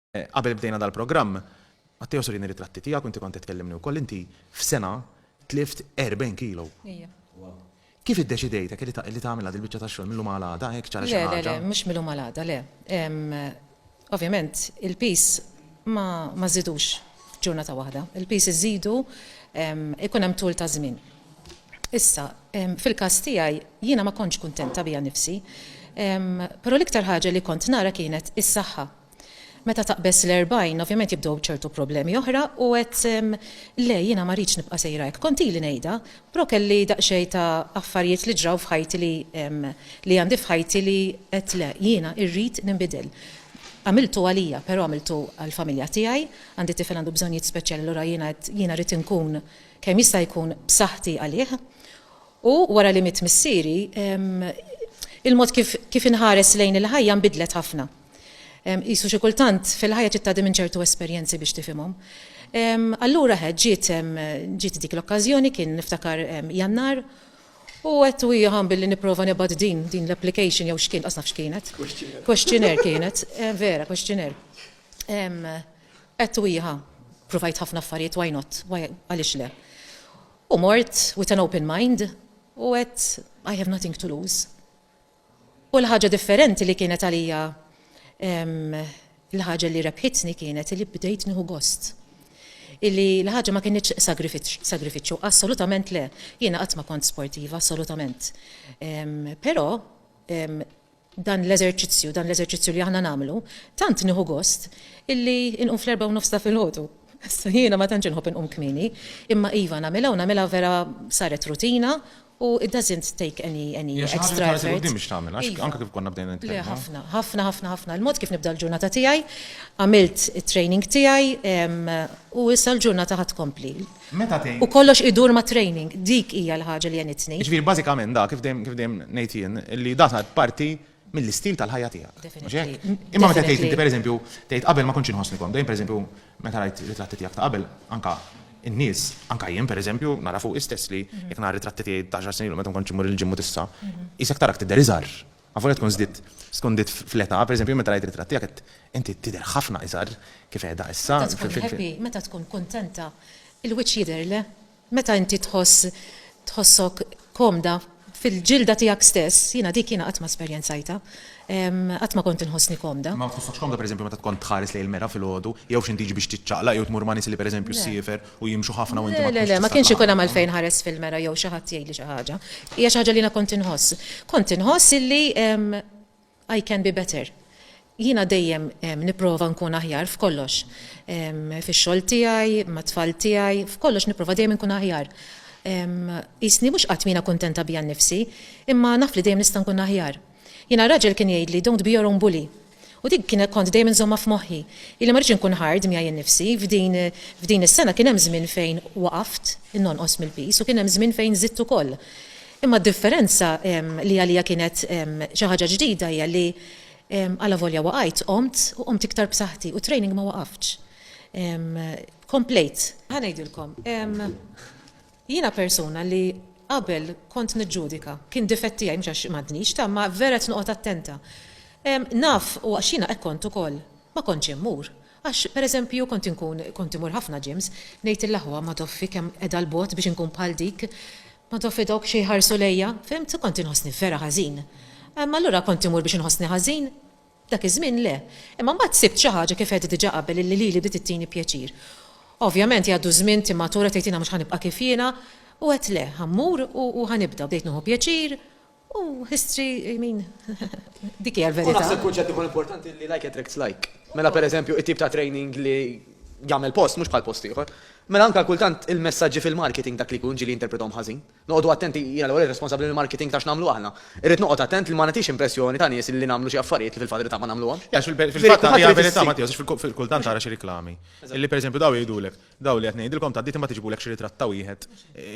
Qabel bdejna dal-programm, Matteo se wrini ritratti tiegħek u inti kont qed tkellimni wkoll, inti f'sena tlift 40 kilo. Ija. Kif iddeċidejt hekk li tagħmilha dil-biċċa tax-xogħol mil-lum għal għada hekk ċara xi ħaġa? Le, le, le, mhux mil-lum għal għada, le. Ovvjament il-piż ma żżidux f'ġurnata waħda. Il-piż iżżidu ikun hemm tul ta' żmien. Issa, fil-każ tiegħi, jiena ma kontx kuntenta bija nnifsi. Però l-iktar ħaġa li kont nara kienet is-saħħa. Meta taqbeż l-erbgħin, ovvjament jibdew ċertu problemi oħra u għedt, Le, jiena ma rridx nibqa' sejra hekk. Kont ili ngħidha, però kelli daqsxejn ta' affarijiet li ġraw f'ħajti li li għandi f'ħajti li għedt, Le, jiena rrid ninbidel. Għamiltu għalija, però għamiltu għall-familja tiegħi. Għandi tifel għandu bżonjiet speċjali allura jiena għedt, jiena rrid inkun. kemm jista' jkun b'saħħti għalih, u wara li miet missieri, il-mod kif inħares lejn il-ħajja nbidlet ħafna. Qisu xi kultant fil-ħajja trid tgħaddi minn ċertu esperjenzi biex tifhimhom. Allura hekk ġiet dik l-okkażjoni, kien niftakar Jannar, u għedt u hija billi nipprova nibgħat din din l-application jew x'kien, qas naf x'kienet. Questionnaire. Questionnaire kienet, vera, questionnaire. Għedt u jieħa, ppruvajt ħafna affarijiet why not, għaliex le. U mort with an open mind u għedt I have nothing to lose. U l-ħaġa differenti li kienet għalija l-ħaġa li rebħitni kienet li bdejt nieħu gost. Illi l-ħaġa ma kienieċ sagrifiċċju, assolutament le. Jiena qatt ma kont sportiva, assolutament. Però dan l-eżerċizzju, dan l-eżerċizzju li aħna nagħmlu, tant nieħu gost illi inqum fl-erbgħa u nofs ta' filgħodu. Issa jiena ma tantx inħobb inqum kmieni, imma iva nagħmilha u nagħmilha vera saret rutina u it doesn't take any any Hija xi ħaġa li extra tħares effort. il-quddiem biex tagħmilha, għax Iva. anke kif konna bdejna Le nitkellmu. ħafna, ħafna, ħafna, ħafna. Il-mod kif nibda l-ġurnata tiegħi, għamilt it-training tiegħi, ehm, u issa l-ġurnata ħa tkompli. Meta tgħid. U kollox idur mat-training, dik hija l-ħaġa li għenitni. Jiġifieri bażikament dak, kif dejjem kif dejjem ngħid jien, li dan sar parti mill-istil tal-ħajja tiegħek. Mhux hekk? Imma meta tgħid inti pereżempju, tgħid qabel ma kontx inħossni komda, jien pereżempju meta rajt ritratti tiegħek ta' qabel, anke n-nies, anke jien pereżempju, nara fuqi stess li jekk nara ritratti tiegħi t'għaxar snin ilu meta ma kontx immur il-gym u t'issa, qisek tarak tidher iżgħar. Avolja tkun żdidt, skondit fl-età, per eżempju, meta rajt ritratt tiegħek għedt, inti tidher ħafna iżgħar kif qiegħda issa. Meta tkun happy, meta tkun kuntenta, il-wiċċ jidher, le? Meta inti tħoss, tħossok komda fil-ġilda tiegħek stess, jiena dik jiena qatt ma esperjenzajtha, qatt ma kont inħossni komda. Ma tħossokx komda, per eżempju, meta tkun tħares lejn il-mera filgħodu, jew x'intiġi biex tiċċaqlaq jew tmur ma' nies li, per eżempju, ssiefer u jimxu ħafna u inti ma tkunx. Le, le, le, ma kienx ikun hemm għalfejn nħares fil-mera jew xi ħadd jgħidli xi ħaġa. Hija xi ħaġa li jiena kont inħoss. Kont inħoss illi I can be better. Jiena dejjem nipprova nkun aħjar f'kollox. Fix-xogħol tiegħi, mat-tfal tiegħi, f'kollox nipprova dejjem inkun aħjar. Qisni mhux qatt mina kuntenta bija nnifsi, imma naf li dejjem nista' nkun aħjar. Jiena raġel kien jgħidli don't be your own bully. U dik kien kont dejjem inżommha f'moħħi. Ili ma rridx inkun hard miegħi nnifsi. F'din f'din is-sena kien hemm żmien fejn waqaft nonqos mill-piż u kien hemm żmien fejn żidt ukoll. Imma d-differenza li għalija kienet xi ħaġa ġdida hija li alavolja waqajt, qomt u qomt iktar b'saħħti u t-training ma waqaftx. Komplejt. Ħa ngħidilkom. Jiena persuna li qabel kont niġġudika. Kien difett tiegħi mhux għax m'għandnix ta' imma vera qed noqgħod attenta. Naf u għax jiena hekk kont ukoll ma kontx immur. Għax per eżempju kont inkun kont imur ħafna gyms ngħid lill-aħwa Madoffi kemm qiegħda 'l bogħod biex inkun bħal dik. Madoffi dawk xi jħarsu lejja. Fhimt? Kont inħossni vera ħażin. Allura kont imur biex inħossni ħażin. Dak iż-żmien le. Imma mbagħad sibt xi ħaġa kif għedt diġà qabel illi lili bdiet ittini pjaċir. Ovvjament jgħaddu ż-żmien, timmatura, tgħid jiena mhux ħa nibqa' kif jiena. U għedt le, ħa mmur u ħa nibda. Bdejt nieħu pjaċir u history, I mean, dik hija l-verità. U naħseb kunċett ieħor importanti illi like attracts like. Mela pereżempju it-tip ta' training li jagħmel post mhux bħal post ieħor. Mela anke kultant il-messaġġi fil-marketing dak li jkun ġieli jinterpretahom ħażin. Noqogħdu attenti, jiena l-ewwel responsabbli mill-marketing ta' x'nagħmlu aħna. Irrid noqgħod attent li ma nagħtix impressjoni ta' nies li nagħmlu xi affarijiet li fil-verità ma nagħmluhomx. Għax fil-fatt hija verità Mattia, għax kultant tara xi riklami li pereżempju dawn jgħidulek, dawn li qed ngħidilkom tgħaddiet imbagħad iġibulek xi ritratt ta' wieħed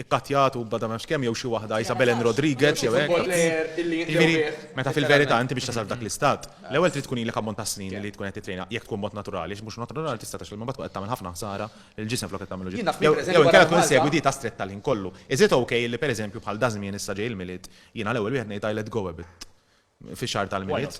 ikkattjat u bla ta' ma nafx kemm jew xi waħda qisha Belen Rodriguez jew hekk. Jiġifieri, meta fil-verità inti biex tasal f'dak l-istat, l-ewwel trid tkun ilek ammont ta' snin li tkun qed tittrejna, jekk tkun b'mod naturali, għax mhux naturali tista' tgħax l-ilma imbagħad tkun qed tagħmel ħafna ħsara il-ġisem flok qed tagħmlu ġid. Jew inkella tkun issegwi dieta stretta l-ħin kollu. Is it ok li pereżempju bħal dażmien issa ġej il-Milied, jiena l-ewwel wieħed ngħid I let go a bit fix-xahar tal-Milied.